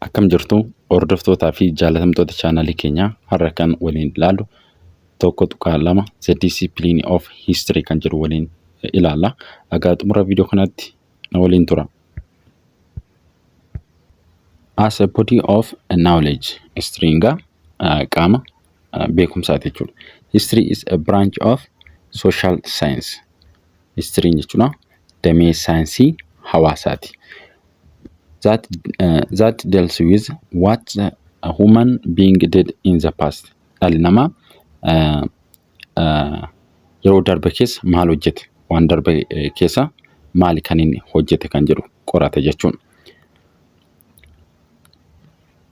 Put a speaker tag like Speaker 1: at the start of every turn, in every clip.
Speaker 1: Akkam jirtu hordoftootaa fi jaalatamtoota chaanalii keenyaa har'a kan waliin ilaallu tokko tuqaa lama the discipline of history kan jedhu waliin ilaalla. Egaa xumura viidiyoo kanatti na waliin tura. As a body of knowledge history egaa qaama uh, beekumsaati jechuudha. History is a branch of social science. History jechuudha damee saayinsii hawaasaati. That, uh, that deals with what the human being did in the past. Dhalli namaa uh, uh, yeroo darbe keessa maal hojjete waan darbe eh, keessa maali kan inni hojjete kan jedhu qorata jechuudha.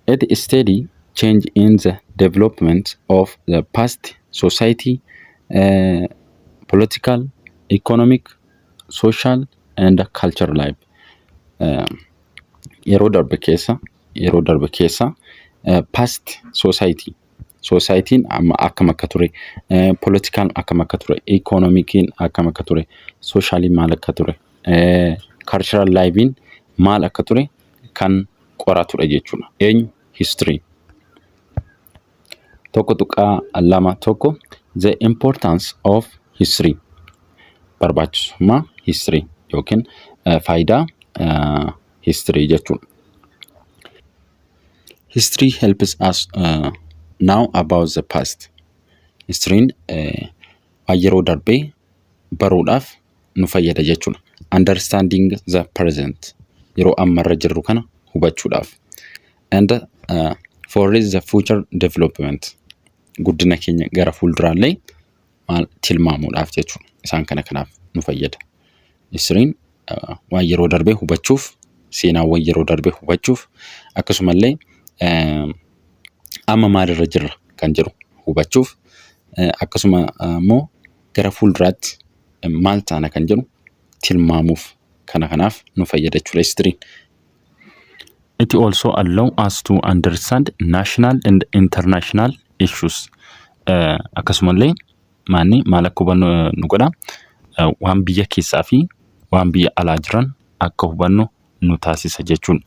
Speaker 1: It study change in the development of the past society, uh, political, economic, social and culture life. Uh, yeroo darbe keessa yeroo darbe keessa uh, past society society'n amma akkam akka ture uh, political akkam akka ture economic'n akkam akka ture socially maal akka ture uh, cultural life'n maal akka ture kan qoratudha jechuudha. Eenyu? History. Tokko tuqaa lama tokko the importance of history barbaachisummaa history yookiin eh, faayidaa eh, history jechuudha. History helps us uh, now about the past. History'n eh, waan yeroo darbee baruudhaaf nu fayyada jechuudha. Understanding the present yeroo ammarra jirru kana hubachuudhaaf. And uh, for is the future development guddina keenya gara fuulduraallee maal tilmaamuudhaaf jechuudha. Isaan kana kanaaf nu fayyada. Isriin uh, waan yeroo darbee hubachuuf seenaawwan yeroo darbee hubachuuf akkasumallee uh, amma maalirra jirra kan jedhu hubachuuf uh, akkasuma immoo uh, gara fuulduraatti maal taana kan jedhu tilmaamuuf kana kanaaf nu fayyada jechuudha histiriin. It also allow us to understand national and international issues. Eh, Akkasumallee maanni maal akka hubannu eh, nu godha Eh, waan biyya keessaa fi waan biyya alaa jiran akka hubannu nu taasisa jechuudha.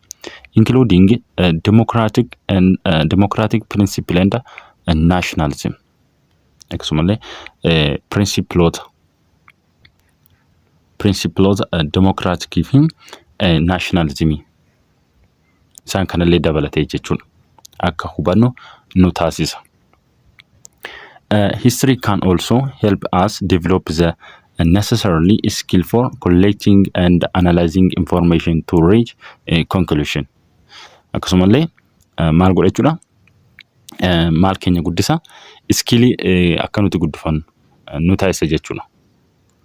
Speaker 1: Including eh, democratic and eh, democratic principle and eh, nationalism. akkasumallee pirinsippiloota pirinsippiloota demokiraatikii fi naashinaalizimii isaan kanallee dabalatee jechuun akka hubannu nu taasisa. History can also help us develop the necessarily skill for collecting and analyzing information to reach a conclusion. Akkasumallee eh, maal godha jechuudha eh, maal keenya guddisa iskiilii eh, akka nuti guddifannu eh, nu taasisa jechuudha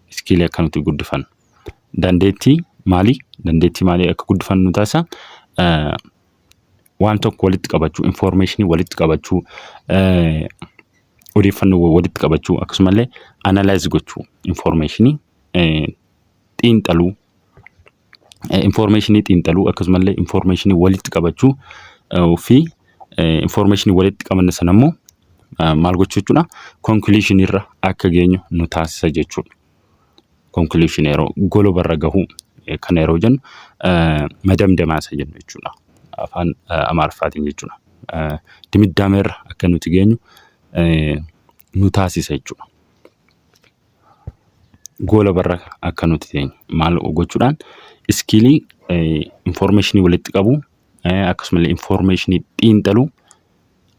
Speaker 1: iskiilii akka nuti guddifannu dandeettii maalii dandeettii maalii akka guddifannu nu taasisa eh, waan tokko walitti qabachuu information walitti qabachuu eh, odeeffannoo walitti qabachuu akkasumallee analyze gochuu information eh, xiinxaluu infoormeeshinii xiinxaluu akkasumallee infoormeeshinii walitti qabachuu fi infoormeeshinii walitti qabanne sana immoo maal gochuu jechuudha konkiliishinii irra akka geenyu nu taasisa jechuudha. Konkiliishinii yeroo goloba irra gahuu kana yeroo jennu madamdamaa isa jennu jechuudha. Afaan Amaariffaatiin jechuudha. Dimiddaama irra akka nuti geenyu nu taasisa jechuudha. goola barra akka nuti teenyu maal gochuudhaan iskiilii infoormeeshinii walitti qabu akkasumas infoormeeshinii xiinxaluu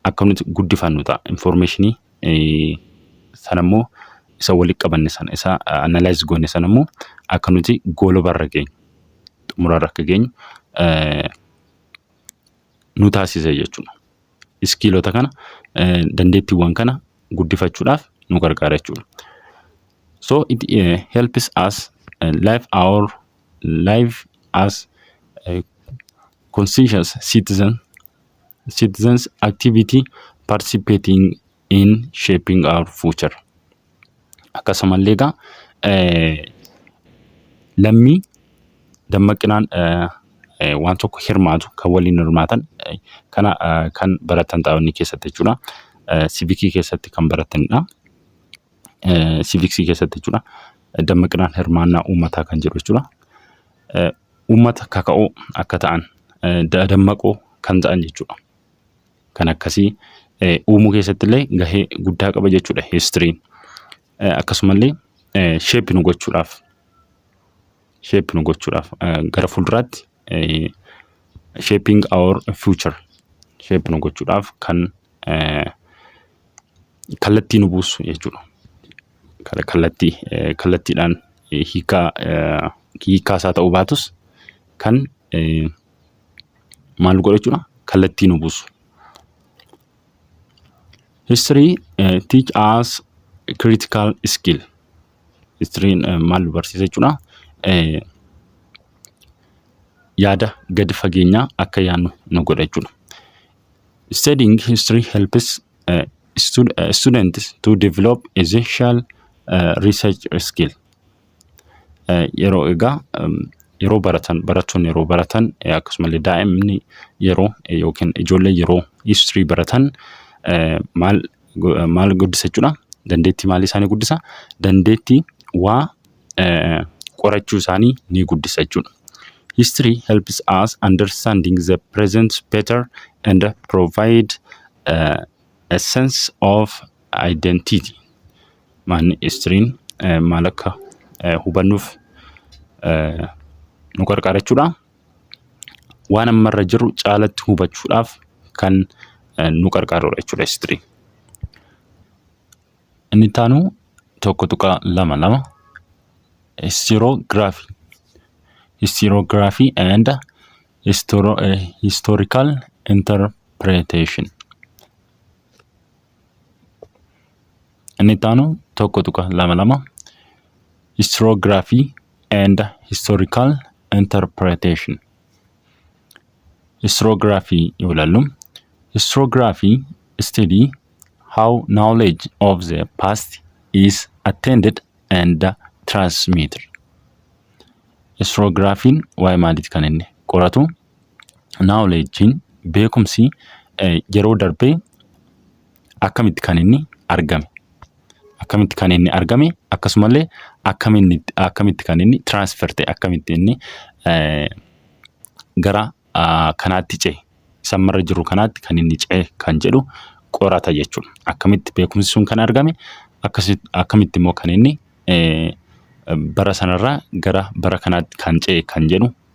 Speaker 1: akka nuti guddifannu ta'a. Infoormeeshinii sanammoo isa walitti qabanne sana isa analaayiz goone sanammoo akka nuti goola barra geenyu xumurarra akka geenyu nu taasisa jechuudha. iskiilota kana dandeettiiwwan kana guddifachuudhaaf nu gargaara jechuudha. So it uh, helps us uh, live our life as uh, conscientious citizen citizens activity participating in shaping our future. Akkasumallee egaa lammii dammaqinaan waan tokko hirmaatu kan waliin hirmaatan kana kan baratan xaa'onni keessatti jechuudha. Sivikii keessatti kan baratanidha. Siviksii keessatti jechuudha. Dammaqinaan hirmaannaa uummataa kan jedhu jechuudha. Uummata kaka'oo akka ta'an dammaqoo kan ta'an jechuudha. kan akkasii uumuu keessatti illee gahee guddaa qaba jechuudha history. Akkasumallee shape nu gochuudhaaf shape nu gochuudhaaf gara fuulduraatti shaping our future shape nu gochuudhaaf kan kallattii nu buusu jechuudha. Kallattii kallattiidhaan hiikaa hiikaa isaa ta'uu baatus kan maal nu godha jechuudha kallattii nu buusu. History eh, teach us critical skill. History eh, maal nu barsiisa jechuudha. Eh, yaada gadi fageenyaa akka yaadnu nu godha jechuudha. Studying history helps uh, stud- uh, students to develop essential uh, research skill. yeroo egaa yeroo baratan barattoonni yeroo baratan akkasumallee daa'imni yeroo yookiin ijoollee yeroo history baratan maal maal guddisa jechuudha dandeettii maalii isaanii guddisa dandeettii waa qorachuu isaanii ni guddisa jechuudha. History helps us understanding the present better and provide uh, a sense of identity. maanni istiriin maal akka hubannuuf nu gargaara jechuudha. Waan ammarra jiru caalatti hubachuudhaaf kan nu gargaarudha jechuudha istiriin. Inni itti aanu tokko tuqaa lama lama histiroogiraafii histiroogiraafii and historical interpretation. Inni itti aanu tokko tuqa lama lama historiography and historical interpretation. Historiography yoo ilaallu historiography study how knowledge of the past is attended and transmitted. Historiography'n waa'ee maaliiti kan inni qoratu? Naawuleejjiin beekumsi yeroo darbe akkamitti kan inni argame? Akkamitti kan inni argame? Akkasuma illee akkamitti kan inni transfer ta'e? Akkamitti inni gara kanaatti ce'e? Isa amma irra jiru kanaatti kan inni ce'e kan jedhu qorata jechuudha. Akkamitti beekumsi sun kan argame? Akkamitti immoo kan inni bara sanarraa gara bara kanaatti kan ce'e kan jedhu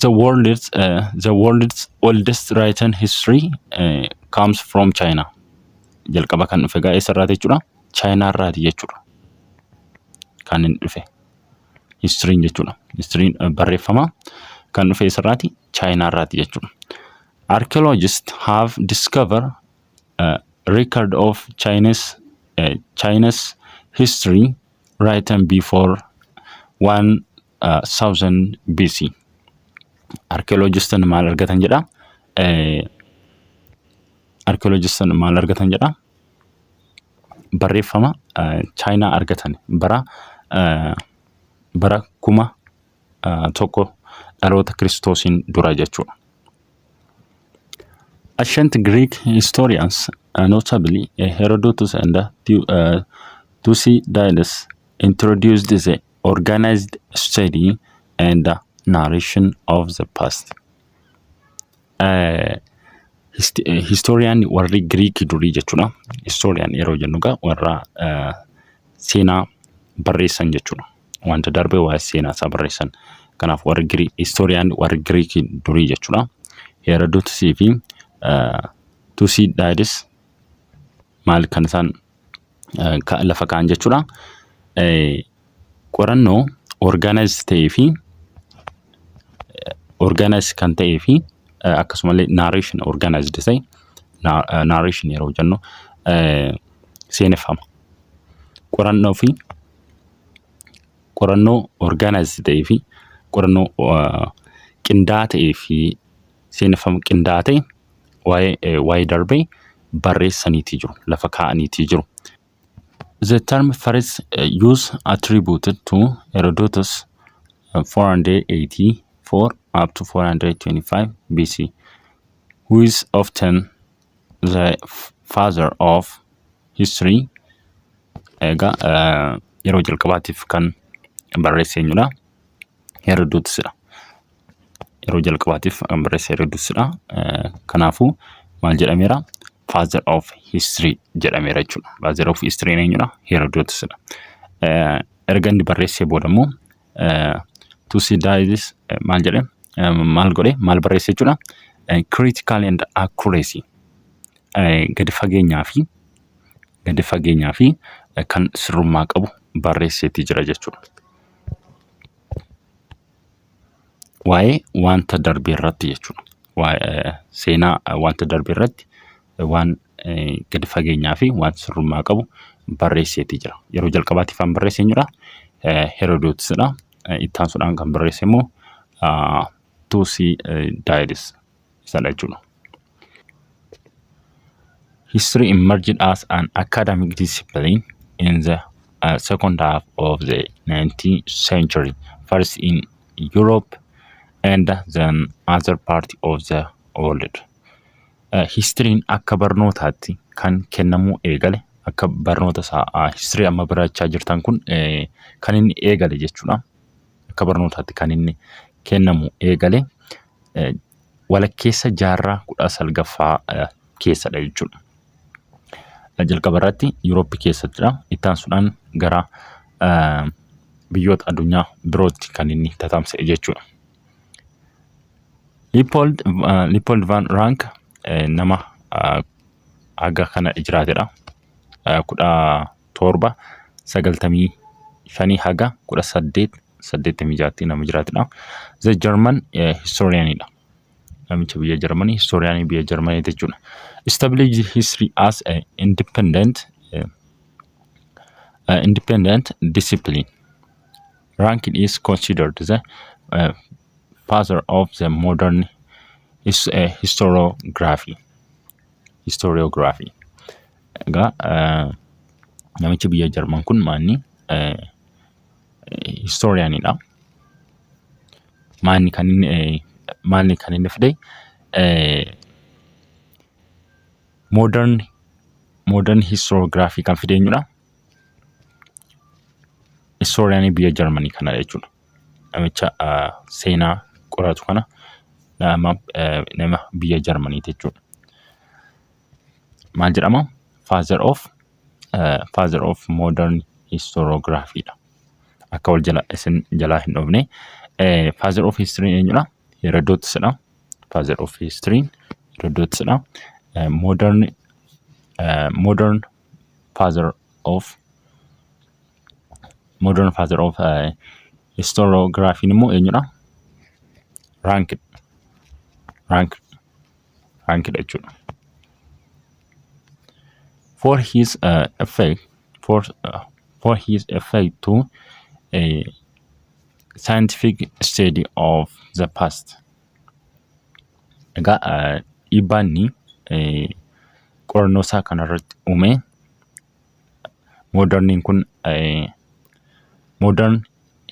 Speaker 1: The world's, uh, the world's oldest written history uh, comes from China. Jalqaba kan dhufe gaa eessarraati jechuudha? Chaayinaa irraati jechuudha. Kan hin dhufe. Histiriin jechuudha. Histiriin uh, barreeffama kan dhufe eessarraati? Chaayinaa irraati jechuudha. Archaeologists have discovered a record of Chinese, uh, China's history written before Southern BC. Arkeoloojistan maal argatan jedha? Arkeoloojistan maal argatan jedha? Barreeffama Chaayinaa argatan bara bara kuma tokko dhaloota kiristoosiin dura jechuudha. Ancient Greek historians, uh, notably uh, Herodotus and uh, Tu- uh, Thucydides, introduced the organized study and narration of the past Eh, hist- eh, historian warri Greek durii jechuudha. Historian yeroo jennu egaa warra eh, seenaa barreessan jechuudha. Wanta darbe waa'ee seenaa isaa barreessan. Kanaaf warri Greek historian warri Greek durii jechuudha. Herodotus fi eh, Thucydides maal kan isaan eh, ka- lafa kaa'an jechuudha. Eh, Qorannoo orgaanaayizd ta'ee fi orgaanaayizd kan ta'ee fi eh, akkasumallee naareeshin orgaanaayizd ta'e naareeshin yeroo jennu eh, seeneffama. Qorannoo fi qorannoo orgaanaayizd ta'ee fi qorannoo eh, qindaa'aa ta'ee fi seeneffama qindaa'aa ta'e waa'ee eh, waa'ee darbee barreessaniitii jiru lafa kaa'aniitii jiru. The term first eh, use attributed to Herodotus eh, 484 up to 425 BC who is often the f- father of history egaa eh, yeroo jalqabaatiif kan barreesse eenyudha? Herodotusidha. yeroo jalqabaatiif kan barreesse Herodosdha. Kanaafuu maal jedhameera? Father of history jedhameera jechuudha. Father of history eenyudha? Herodosdha. Erga inni barreessee booda immoo Thucydides maal jedhe? Maal godhe? Maal barreesse jechuudha? Critical and accuracy gadi fageenyaa fi gadi fageenyaa fi kan sirrummaa qabu barreesseetii jira jechuudha. waa'ee wanta darbe irratti jechuudha. Waa- eh, Seenaa eh, wanta darbe irratti eh, waan eh, gadi fageenyaa fi waan sirrummaa qabu barreesseeti jira. Yeroo jalqabaatiif kan barreesse eenyudha? Eh, Herodootisidha. Eh, Itti aansuudhaan kan barreesse immoo ah, Tuusii eh, Daayidis isadha jechuudha. History emerged as an academic discipline in the uh, second half of the 19th century, first in Europe and then other part of the world. Uh, Histiriin akka barnootaatti kan kennamuu eegale akka barnoota isaa histirii amma barachaa jirtan kun eh, kan inni eegale jechuudha. akka barnootaatti kan inni kennamu eegale walakkeessa jaarraa kudha salgaffaa keessadha jechuudha. Jalqaba irratti Yuuroopi keessattidha. Itti aansuudhaan gara biyyoota addunyaa birootti kan inni tatamsa'e jechuudha. Liippold Liippold Van Raank nama haga kana jiraatedha. Kudha 7 95 haga 18 86tti nama jiraatudha. The German historian dha. Namicha biyya Jarmanii historian biyya Jarmanii jechuudha. Established history as a independent uh, independent discipline. Rankin is considered the uh, father of the modern his, uh, historiography. Historiography. Egaa eh, namichi biyya Jarman kun maanni eh, historiyaanidha. Maanni kan inni eh, maalni kan inni fide eh, modern modern historiography kan fide eenyudha? Historiyaanii biyya Jarmanii kanadha jechuudha. namicha seenaa qoratu kana nama nama biyya Jarmanii jechuudha. Maal jedhama? Father of eh, father of modern historiography dha. Akka wal jala isin jalaa hin dhoofne. Eh, Father of history eenyudha? Herodotus dha. Father of history Herodotus dha. Eh, Modern eh, modern father of Modern father of uh, historiography immoo eenyudha? Rank. Rank. Rankidha jechuudha. For his uh, effect, for, uh, for his effect to a scientific study of the past. Egaa uh, dhiibbaan inni uh, qorannoo isaa kanarratti uume moodarniin kun moodern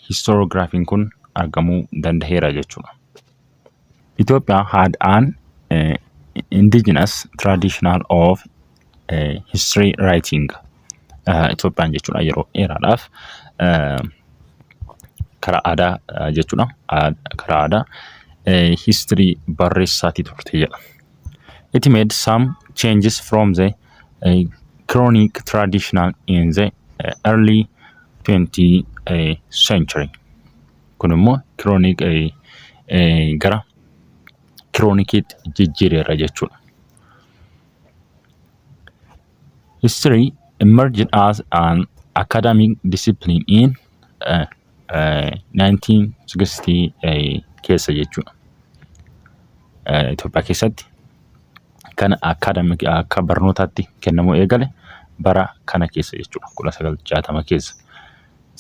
Speaker 1: histoorogiraafiin kun argamuu danda'eera jechuudha. Itoophiyaa had an indigenous traditional of history writing Itoophiyaan jechuudha yeroo dheeraadhaaf karaa aadaa jechuudha karaa aadaa history barreessaatii turte jedha. It made some changes from the uh, chronic traditional in the uh, early 20th uh, century. Kun immoo chronic uh, uh, gara chronikiitti jijjiireera jechuudha. History emerged as an academic discipline in uh, 1960 keessa jechuudha. Itoophiyaa keessatti kan akaadamik akka barnootaatti kennamuu eegale bara kana keessa jechuudha 1960 keessa.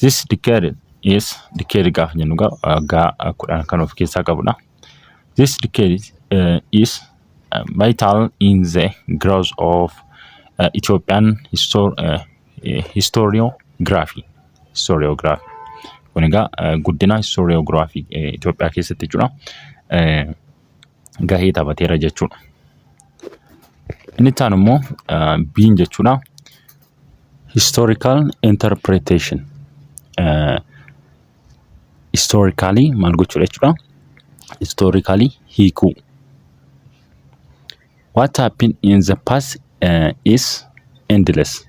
Speaker 1: This decade is decade gaafa jennu egaa waggaa kudhan kan of keessaa qabudha. This decade uh, is uh, vital in the growth of uh, Ethiopian histor- uh, historiography. Historiography. Kun egaa eh, guddina historiography eh, Itoophiyaa keessatti jechuudha eh, gahee taphateera jechuudha. Inni itti aanu immoo eh, biin jechuudha historical interpretation. Eh, historically maal gochuudha jechuudha? Historically hiikuu. What happened in the past uh, is endless.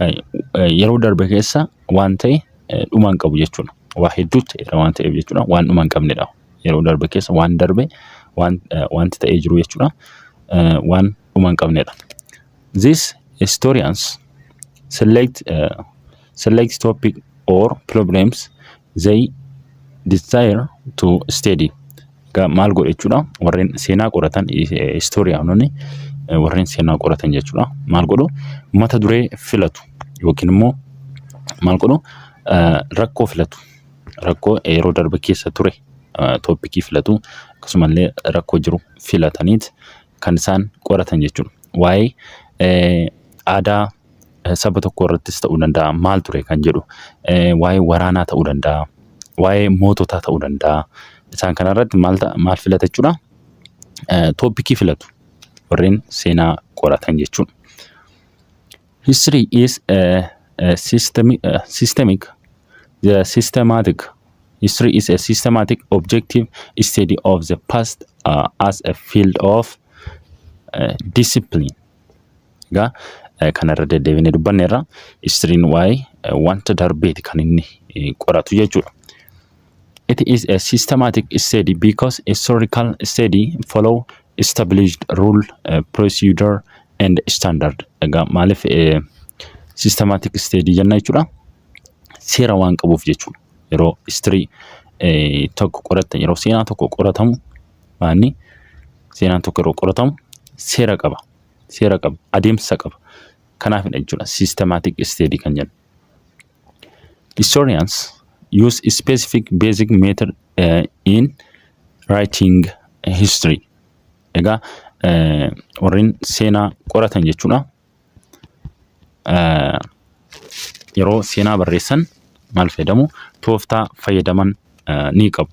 Speaker 1: Uh, uh, yeroo darbe keessa waan ta'e uh, dhuma hin qabu jechuudha. Waa hedduu ta'eera waan ta'eef jechuudha. Waan dhuma hin qabnedha. Yeroo darbe keessa waan darbe waan uh, wanti ta'ee jiru jechuudha. Uh, waan dhuma hin qabnedha. These historians select uh, select topic or problems They desire to study. Egaa maal godha jechuudha? Warreen seenaa qoratan istooriyaanonni warreen seenaa qoratan jechuudha. Maal godhu? Mata duree filatu yookiin immoo maal godhu? Eh, Rakkoo filatu. Rakkoo yeroo darbe keessa ture eh, tooppikii filatu akkasumallee rakkoo jiru filataniit kan isaan qoratan jechuudha. Waa'ee aadaa saba tokkoo irrattis ta'uu danda'a maal ture kan jedhu waa'ee waraanaa ta'uu danda'a waa'ee moototaa ta'uu danda'a isaan kanarratti maal maal filata jechuudha tooppikii filatu warreen seenaa qoratan jechuudha. History is a, a system, a systemic, the systematic. History is a systematic objective study of the past uh, as a field of uh, discipline. Egaa eh, kanarra deddeebinee dubbanneerra. Histiriin waa'ee eh, wanta darbeeti kan inni eh, qoratu jechuudha. It is a systematic study because historical study follow established rule, uh, procedure and standard. Egaa maaliif eh, systematic study jenna jechuudha. Seera waan qabuuf jechuudha. Yeroo history eh, tokko qoratan yeroo seenaa tokko qoratamu maanni seenaan tokko yeroo qoratamu seera qaba. Seera qaba. Adeemsa qaba. Kanaafidha jechuudha systematic study kan jennu. Historians use specific basic method uh, in writing history. Egaa uh, warreen seenaa qoratan jechuudha. Uh, yeroo seenaa barreessan maal fayyadamu? Tooftaa fayyadaman uh, ni qabu.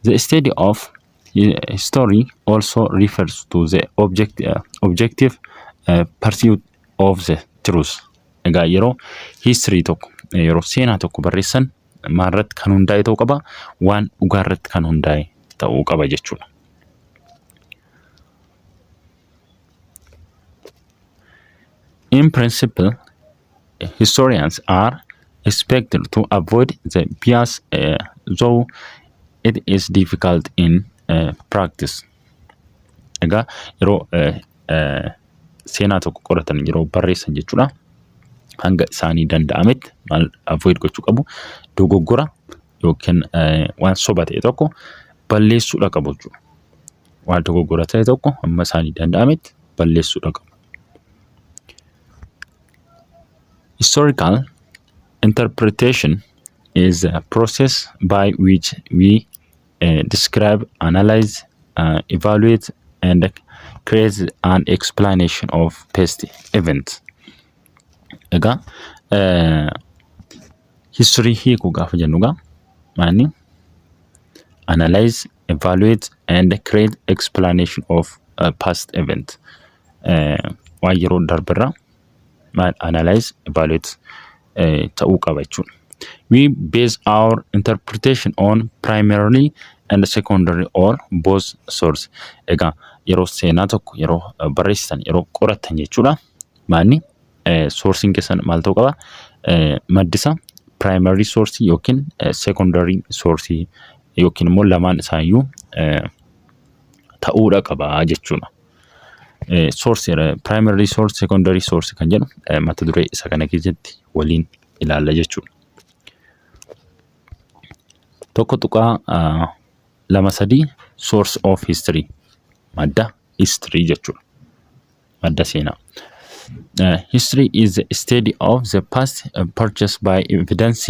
Speaker 1: The study of history also refers to the object, uh, objective uh, pursuit of the truth. Egaa yeroo history tokko yeroo seenaa tokko barreessan maalirratti kan hundaa'e ta'uu qaba? Waan dhugaarratti kan hundaa'e ta'uu qaba jechuudha. In principle, historians are expected to avoid the bias uh, though it is difficult in uh, practice. Egaa yeroo uh, seenaa tokko qoratan yeroo barreessan jechuudha. Hanga isaanii danda'ametti maal avoid gochuu qabu dogoggora yookiin waan soba ta'e tokko balleessuudha qabu jechuudha. Waan dogoggora ta'e tokko amma isaanii danda'ametti balleessuudha qabu. Historical interpretation is a process by which we uh, describe, analyze, uh, evaluate, and create an explanation of past events. Egaa uh, history hiikuu gaafa jennu egaa maani analyze, evaluate, and create explanation of uh, past event. Uh, waan yeroo darberraa maal analyze evaluate eh, ta'uu qaba jechuudha. We base our interpretation on primarily and secondary or both source. Egaa yeroo seenaa tokko yeroo eh, barreessitan yeroo qorattan jechuudha. Maanni eh, sourcing keessan maal ta'uu qaba? Eh, maddisa primary source yookiin eh, secondary source yookiin immoo lamaan isaayyuu eh, ta'uudha qaba jechuudha. Source, primary resource, secondary source kan jedhu mata duree isa kana keessatti waliin ilaalla jechuudha. Tokko tuqaa lama sadii source of history madda history jechuudha. Madda seenaa. Uh, history is the study of the past uh, purchased by evidence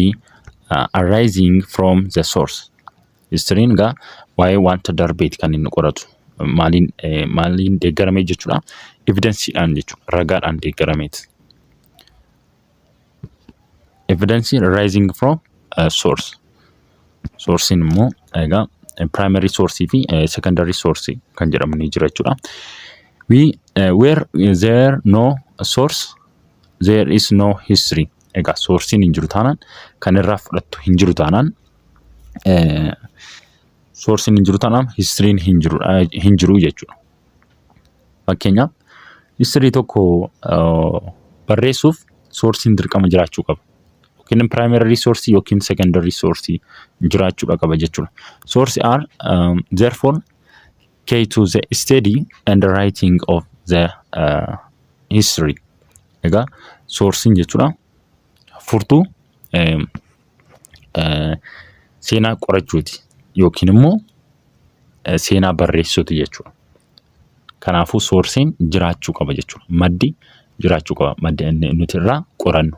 Speaker 1: uh, arising from the source. Histiriin egaa waa'ee wanta darbeeti kan inni qoratu. Maaliin eh, maaliin deeggaramee jechuudha. Evidensiidhaan jechuudha. Ragaadhaan deeggarameeti. Evidensii rising from uh, source. Sourcein immoo egaa primary source fi eh, secondary source kan jedhamu ni jira jechuudha. We uh, where there no source There is no history. Egaa soorsiin hin jiru taanaan kan irraa fudhattu hin jiru taanaan soorsiin hin jiru taanaan histiriin hin jiru hin jiru jechuudha. Fakkeenyaaf histirii tokko barreessuuf soorsiin dirqama jiraachuu qaba. Yookiin primary resource yookiin secondary resource jiraachuudha qaba jechuudha. Source are um, therefore K to the study and writing of the uh, history. Egaa soorsiin jechuudha. Furtuu eh, eh, seenaa qorachuuti yookiin immoo eh, seenaa barreessuuti jechuudha. Kanaafuu soorsiin jiraachuu qaba jechuudha. Maddi jiraachuu qaba. Maddi inni nuti irraa qorannu.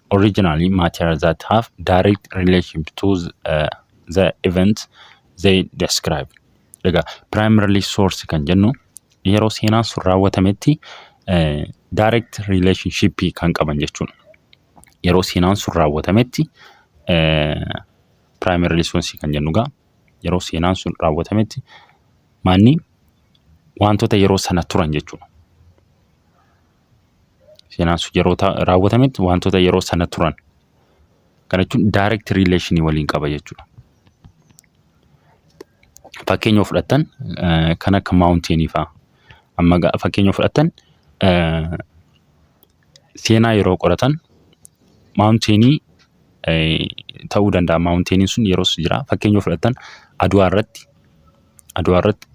Speaker 1: originally matter that have direct relationship to uh, the event they describe. Egaa primarily source kan jennu yeroo seenaan sun raawwatametti uh, direct relationship kan qaban jechuudha. Yeroo seenaan sun raawwatametti uh, primarily source kan jennu egaa yeroo seenaan sun raawwatametti maanni wantoota yeroo sana turan jechuudha. seenaan sun yeroo ta- raawwatametti wantoota yeroo sana turan kana jechuun direct relation waliin qaba jechuudha. Fakkeenya yoo fudhattan eh, kan akka mountain faa amma ga- fakkeenya yoo fudhattan eh, seenaa yeroo qoratan mountain eh, ta'uu danda'a mountain sun yeroos jira fakkeenya yoo fudhattan adwaa irratti Adwaa irratti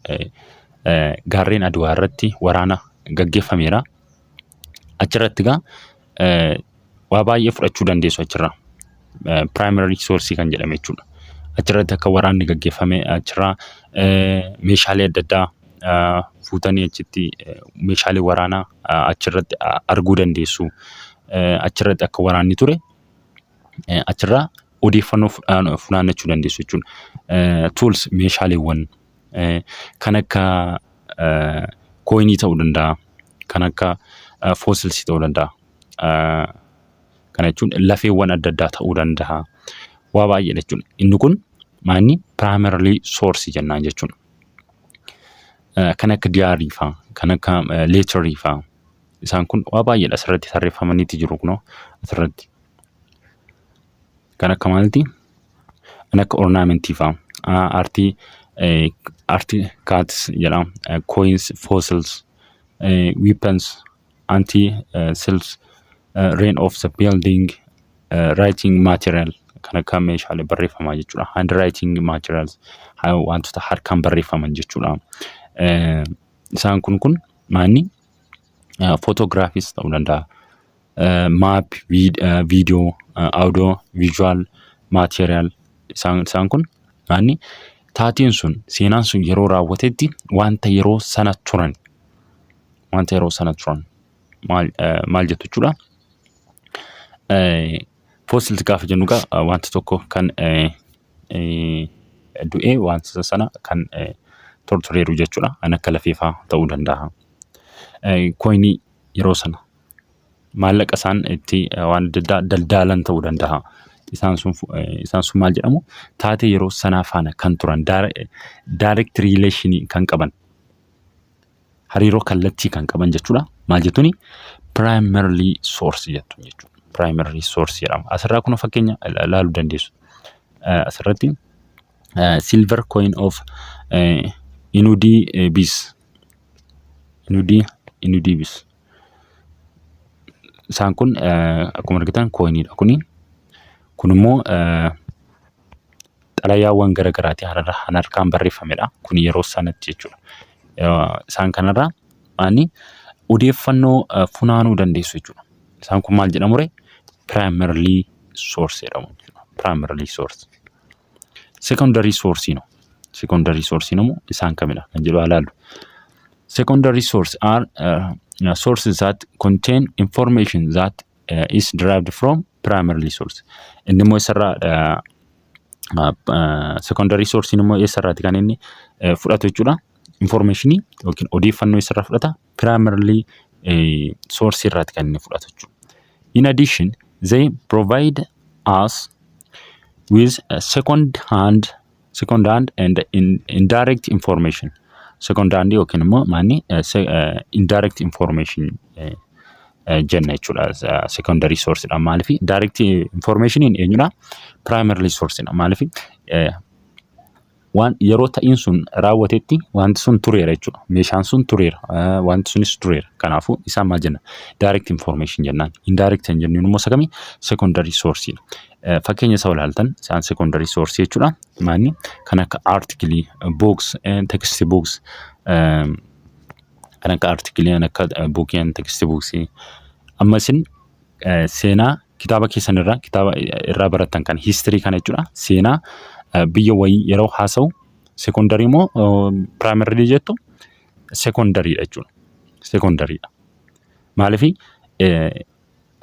Speaker 1: gaarreen Adwaa irratti waraana gaggeeffameera. Achirratti egaa waa baay'ee fudhachuu dandeessu achirraa. Primary source kan jedhame jechuudha. Achirratti akka waraanni gaggeeffame achirraa meeshaalee adda addaa fuutanii achitti meeshaalee waraanaa achirratti arguu dandeessu. Achirratti akka waraanni ture eh, achirraa odeeffannoo fudhaan- funaannachuu dandeessu jechuudha. Eh, Tools meeshaaleewwan eh, kan akka eh, kooyinii ta'uu danda'a, kan akka eh, foosilsii ta'uu danda'a. Eh, Kana jechuun lafeewwan adda addaa ta'uu danda'a. Waa baay'eedha jechuudha. Inni kun maanni piraayimaralii soorsii jennaan jechuudha. Eh, Kan akka diyaarii fa'aa, kan akka leetarii fa'aa isaan kun waa baay'eedha asirratti tarreeffamaniiti jiru kunoo asirratti. Kan akka maalti? Kan akka ornaamentii fa'a. Artii artii kaats jedha. Coins, fossils, weapons, anti selves, rain of the building, writing material kan akka meeshaalee barreeffamaa jechuudha. Hand writing materials wantoota harkaan barreeffaman jechuudha. Isaan kun kun maanni footoograafis ta'uu danda'a. maap, viidiyoo, audio, visual, material isaan isaan kun maanni taateen sun seenaan sun yeroo raawwatetti wanta yeroo sana turan wanta yeroo sana turan maal eh, maal jettu jechuudha. Eh, Fossils gaafa jennu egaa eh, wanta tokko kan eh, eh, du'ee wanta sana kan eh, tortureeru jechuudha. Kan akka lafeefaa ta'uu danda'a. Eh, Koinii yeroo sana maallaqa isaan itti waan adda addaa daldaalan ta'uu danda'a. Isaan sun isaan sun maal jedhamu taatee yeroo sanaa faana kan turan direct relation kan qaban hariiroo kallattii kan qaban jechuudha. Maal jettuuni primarily source jettu jechuudha. Primarily source jedhama. Asirraa kun fakkeenya ilaaluu dandeessu. Asirratti silver coin of inudii bis inudii inudii bis. Isaan kun akkuma argitan kooyiniidha kuni. Kun immoo xalayaawwan gara garaati hararra kan harkaan barreeffamedha. Kun yeroo sanatti jechuudha. Isaan kanarraa ani odeeffannoo funaanuu dandeessu jechuudha. Isaan kun maal jedhamure? Primarily source jedhamu. Primarily source. Sekondarii soorsiin hoo? Sekondarii soorsiin immoo isaan kamidha kan jedhu haa ilaallu. Secondary source are uh, sources that contain information that uh, is derived from primary source. Inni immoo isarraa uh, uh, secondary source immoo eessarraati kan inni uh, fudhatu jechuudha. Informationii yookiin odeeffannoo isarraa fudhata. primarily eh, source irraati kan inni fudhatu jechuudha. In addition, they provide us with a second hand second hand and in, indirect information second hand yookiin immoo maanni eh, se- eh, indirect information eh, eh, jenna jechuudha Eh, secondary source dha maaliif direct information eenyudha primarily source dha maaliif eh, waan yeroo ta'iin sun raawwatetti wanti sun tureera jechuudha. Meeshaan sun tureera. eh, Wanti sunis tureera. Kanaafuu isaa maal jenna? Direct information jennaan. Indirect kan jennuun immoo isa kami? Secondary source dha. Eh, Fakkeenya isaa olaaltan isaan secondary source jechuudha. Maanni kan akka article, books, eh, text books, eh, kan akka article, kan akka eh, book and text books. Amma isin eh, seenaa kitaaba keessan irraa kitaaba eh, irraa barattan kan history kana jechuudha seenaa eh, biyya wayii yeroo haasa'u secondary moo primary jettu secondary dha jechuudha secondary dha maalifi eh,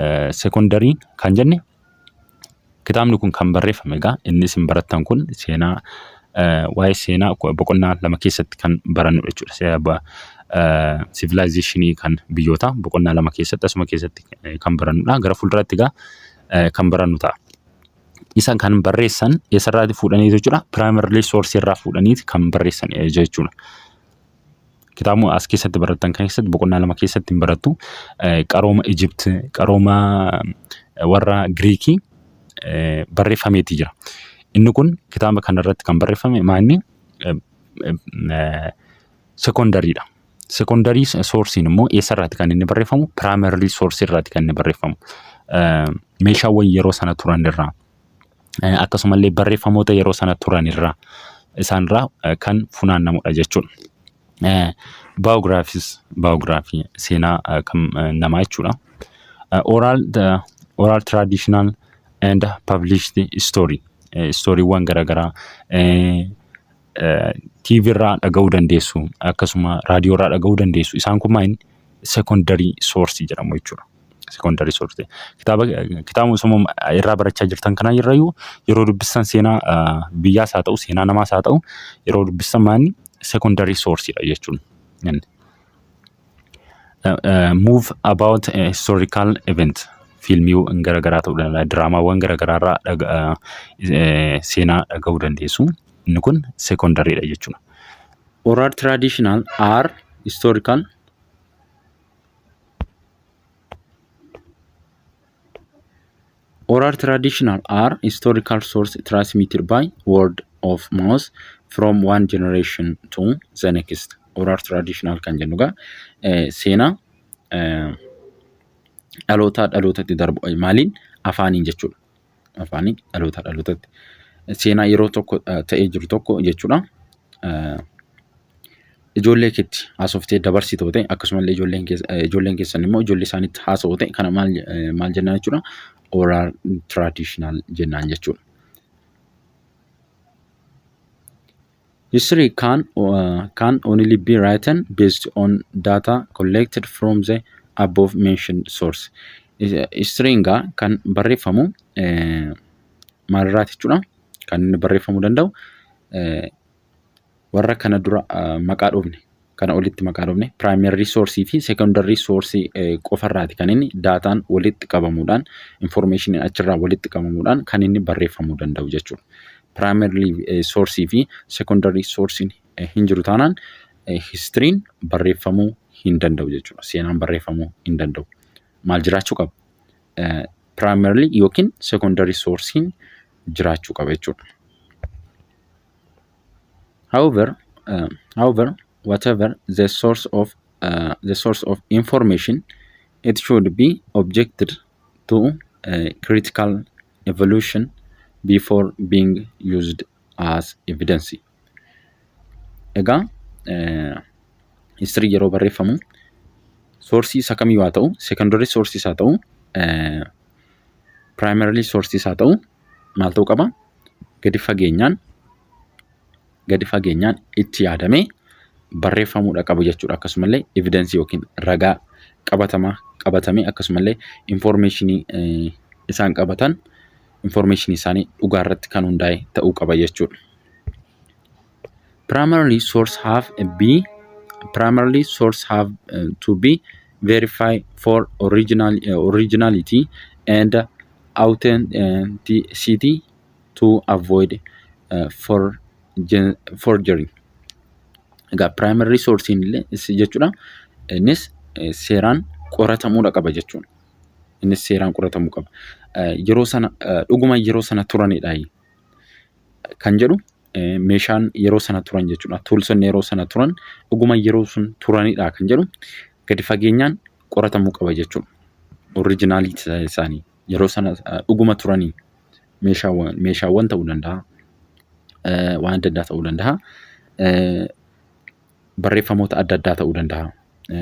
Speaker 1: eh, secondary kan jenne Kitaabni kun kan barreeffame egaa inni isin barattan kun seenaa waa'ee seenaa boqonnaa lama keessatti kan barannu jechuudha. Sivilaayizeeshinii kan biyyoota boqonnaa lama keessatti asuma keessatti kan barannudha. Gara fuulduraatti egaa kan barannu ta'a. Isa kan barreessan eessarraati fuudhanii jechuudha. Piraayimarlii soorsii irraa fuudhanii kan barreessan jechuudha. kitaabuma as keessatti barattan kan keessatti boqonnaa lama keessatti hin barattu qarooma Ijipt qarooma warra Giriikii barreeffameeti jira. Inni kun kitaaba kanarratti kan barreeffame maanni sekondariidha. Sekondarii soorsiin immoo eessarraati kan inni barreeffamu? Piraayimaririi soorsii irraati kan inni barreeffamu. Meeshaawwan yeroo sana turan irraa eh, akkasumallee barreeffamoota yeroo sana turan irraa isaanirraa eh, kan funaannamudha jechuudha. Eh, Biographies, biography seenaa eh, kan eh, namaa jechuudha. Eh, Oral, the, oral traditional and published story. Eh, Stooriiwwan garaagaraa eh, TV irraa dhaga'uu dandeessu akkasuma raadiyoo irraa dhaga'uu dandeessu isaan kun maal sekondarii soorsii jedhamu jechuudha. Sekondarii soorsii kitaaba kitaaba osoo irraa barachaa jirtan kana irrayyuu yeroo dubbistan seenaa biyyaas haa ta'u seenaa namaas haa ta'u yeroo dubbistan maal sekondarii soorsiidha jechuudha. Move about a historical event. Fiilmiiwwan garaagaraa ta'uu danda'a. Diraamaawwan garaagaraa irraa dhaga- ah, eh, seenaa dhaga'uu dandeessu. Inni kun secondary dha jechuudha. Oral traditional are historical Oral traditional are historical source transmitted by word of mouth from one generation to the next. Oral traditional kan jennu egaa eh, seenaa eh, dhalootaa dhalootatti darbu eh, maaliin afaaniin jechuudha. Afaaniin dhalootaa dhalootatti seenaa yeroo tokko eh, ta'ee jiru tokko jechuudha. Eh, ijoollee keetti haasoftee dabarsitu yoo ta'e akkasumallee ijoolleen keessa- eh, ijoolleen keessan immoo ijoollee isaanitti haasa'u yoo ta'e kana maal eh, maal jennaan jechuudha oral traditional jennaan jechuudha. History can uh, can only be written based on data collected from the above mentioned source. Is- Historiin gaa kan barreeffamu eh, maalirraati jechuudha kan inni barreeffamuu danda'u eh, warra kana dura maqaa dhufne kana olitti maqaa dhufne primary source fi secondary source qofarraati kan inni daataan walitti qabamuudhaan information achirraa walitti qabamuudhaan kan inni barreeffamuu danda'u jechuudha. Primary source fi secondary source hin jiru taanaan history'n barreeffamuu hin danda'u jechuudha. Seenaan barreeffamuu hin danda'u. Maal jiraachuu qaba? Primary yookiin secondary source'n jiraachuu qaba jechuudha. However, uh, however, whatever the source of uh, the source of information, it should be objected to uh, critical evolution before being used as evidence. Egaa history yeroo barreeffamu soorsii isa kamiyyuu haa ta'u, secondary sources haa ta'u, uh, primarily sources haa ta'u, maal ta'uu qaba? Gadi fageenyaan gadi fageenyaan itti yaadamee barreeffamuudha qabu jechuudha. Akkasumallee evidensii yookiin ragaa qabatamaa qabatamee akkasumallee informeeshinii isaan qabatan informeeshinii isaanii dhugaa irratti kan hundaa'e ta'uu qaba jechuudha. primarily source have a be primarily source have uh, to be verified for original uh, originality and authenticity to avoid uh, for gen- forgery. Egaa primary source illee is jechuudha. Innis eh, seeraan qoratamuudha qaba jechuudha. Innis seeraan qoratamuu qaba. Eh, Yeroo sana eh, dhuguma yeroo sana turanidha kan jedhu meeshaan yeroo sana turan jechuudha. Tuulsonni yeroo sana turan dhuguma yeroo sun turanidha kan jedhu gadi fageenyaan qoratamuu qaba jechuudha. Orijinaalii isaanii yeroo sana dhuguma turanii meeshaawwan meeshaawwan ta'uu danda'a. Waan adda addaa ta'uu danda'a. Barreeffamoota adda addaa ta'uu danda'a.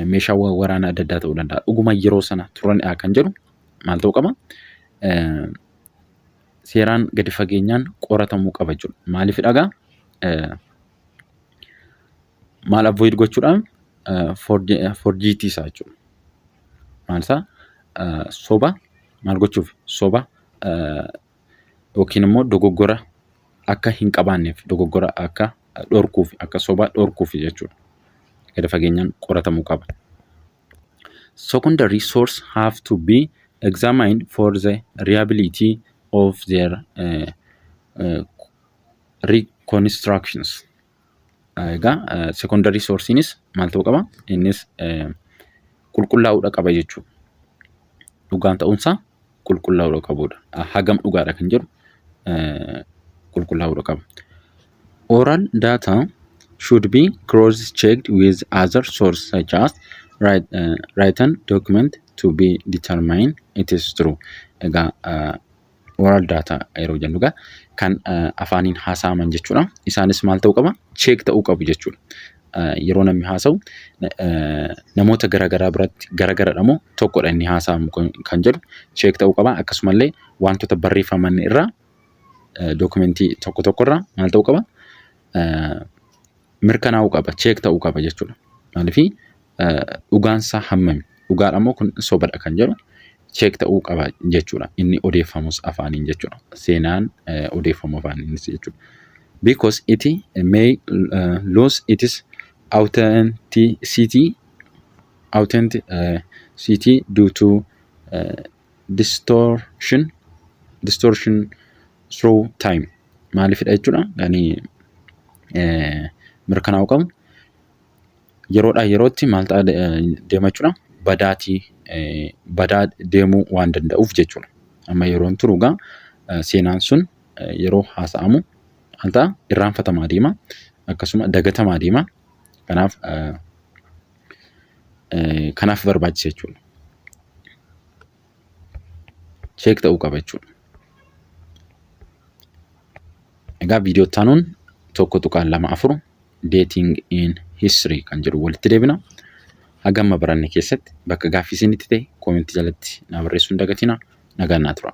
Speaker 1: Meeshaawwan waraanaa adda addaa ta'uu danda'a. Dhuguma yeroo sana turanidha kan jedhu maal ta'uu qaba? seeraan gadi fageenyaan qoratamuu qaba jechuudha. Maaliif dhagaa? Maal avoid gochuudhaan forjiitii isaa jechuudha. Maal isaa? Soba maal gochuuf? Soba yookiin immoo dogoggora akka hin qabaanneef dogoggora akka dhorkuuf akka soba dhorkuuf jechuudha. Gadi fageenyaan qoratamuu qaba. secondary source have to be examined for the reliability of their uh, uh, reconstructions. Egaa uh, secondary sourceinis maal ta'uu qaba? Innis uh, qulqullaa'uudha qaba jechuudha. Dhugaan ta'uunsaa qulqullaa'uudha qabuudha. Hagam dhugaadha kan jedhu qulqullaa'uudha qaba. Oral data should be cross checked with other source such as write- uh, written document to be determined it is true. Egaa uh, oral data yeroo jennu egaa kan uh, afaaniin haasa'aman jechuudha. Isaanis maal ta'uu qaba? Cheek ta'uu qabu jechuudha. yeroo namni haasa'u namoota garaagaraa biratti garaagaradha moo tokkodha inni haasa'amu kan jedhu cheek ta'uu qaba. Akkasumallee wantoota barreeffaman irraa dookumentii tokko tokko irraa maal ta'uu qaba? Mirkanaa'uu qaba, cheek ta'uu qaba jechuudha. Maaliif dhugaansaa hammami? dhugaadha moo kun sobadha kan jedhu cheek ta'uu qaba jechuudha. Inni odeeffamus afaaniin jechuudha. Seenaan eh, odeeffamu afaaniinis jechuudha. Because it may uh, lose its authenticity authenticity due to uh, distortion distortion through time maalifidha jechuudha yani eh, mirkanaa'uu qabu yeroodhaa yerootti maal ta'a deema jechuudha badaatii badaa deemuu waan danda'uuf jechuudha. Amma yeroon turu egaa seenaan sun yeroo haasa'amu maal ta'a irraanfatamaa deema akkasuma dagatamaa deema kanaaf kanaaf barbaachisa jechuudha. cheek ta'uu qaba jechuudha. Egaa viidiyoo itti aanuun tokko tuqaan lama afur dating in history kan jedhu walitti deebina. Hagamma baranne keessatti bakka gaaffii isinitti ta'e koomentii jalatti naa barreessuu hin dagatina. Nagaan naa tura.